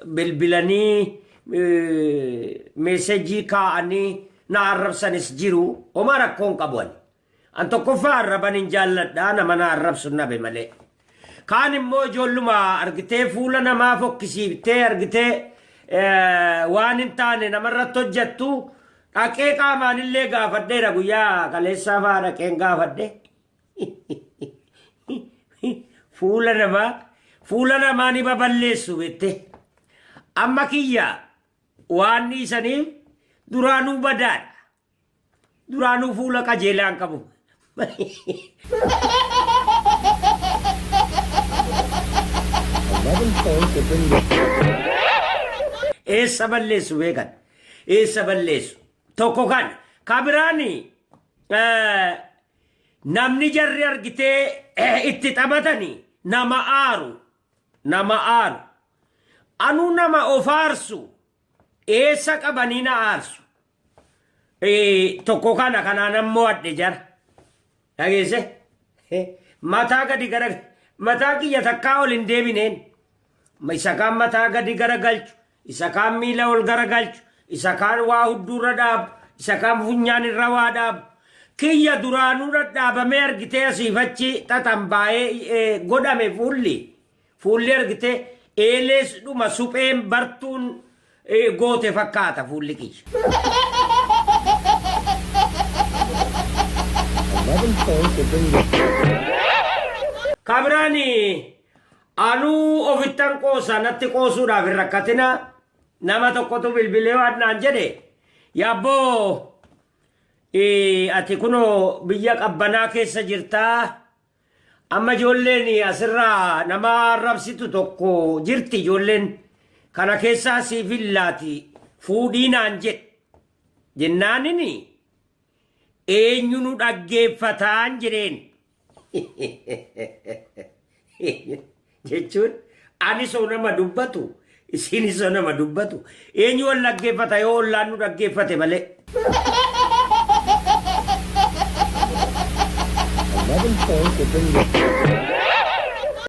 bilbilanii meesejii kaa'anii na arrabsanis jiru homaa rakkoon qabu ani. An tokkoffaa arraban hin jaalladha nama na arrabsu nabe malee. Kaan immoo ijoolluma argitee fuula namaa fokkisiiftee argitee waan hin taane namarratti hojjettu dhaqee qaamaan illee gaafadheera guyyaa kaleessaa fa'aa dhaqeen gaafadhe. fuula namaa fuula namaa ni baballeessu bette amma kiyya waan dhiisaniif duraanuu badaadha duraanuu fuula qajeelaa hin qabu eessa balleessu beekan eessa balleessu tokko kan kabiraani Namni jarri argitee itti taphatani nama aaru nama aaru anuu nama of aarsu eessa qabanii na aarsu tokko kana kanaan ammoo adhe jara dhageesse mataa gadi gara mataa kiyya takkaa ol hin deebineen isa kaan mataa gadi gara galchu isa kaan miila ol garagalchu, isa kaan waa hudduurra dhaabu, isa kaan funyaan irra waa dhaabu. Kiyya duraanuu dhadhaabamee argitee asiif achi xaxan baayee godhame fuulli. Fuulli argitee eelees dhuma supheen bartuun goote fakkaata fuulli kiyya. Ka biraan Anuu ofittan qoosa natti qoosuudhaaf hin rakkatinaa nama tokkotu bilbilee waan naan jedhe yaabboo eh, ati kunoo biyya qabbanaa keessa jirtaa amma ijoolleen asirraa nama arrabsitu tokko jirti ijoolleen kana keessaa siif hin laati fuudhii naan jedhe jennaanini Eenyu nu dhaggeeffataan jedheen. Jechuun anis oo nama dubbatu isiinis oo nama dubbatu eenyu wal dhaggeeffata yoo ollaan nu dhaggeeffate malee. Eleven points have been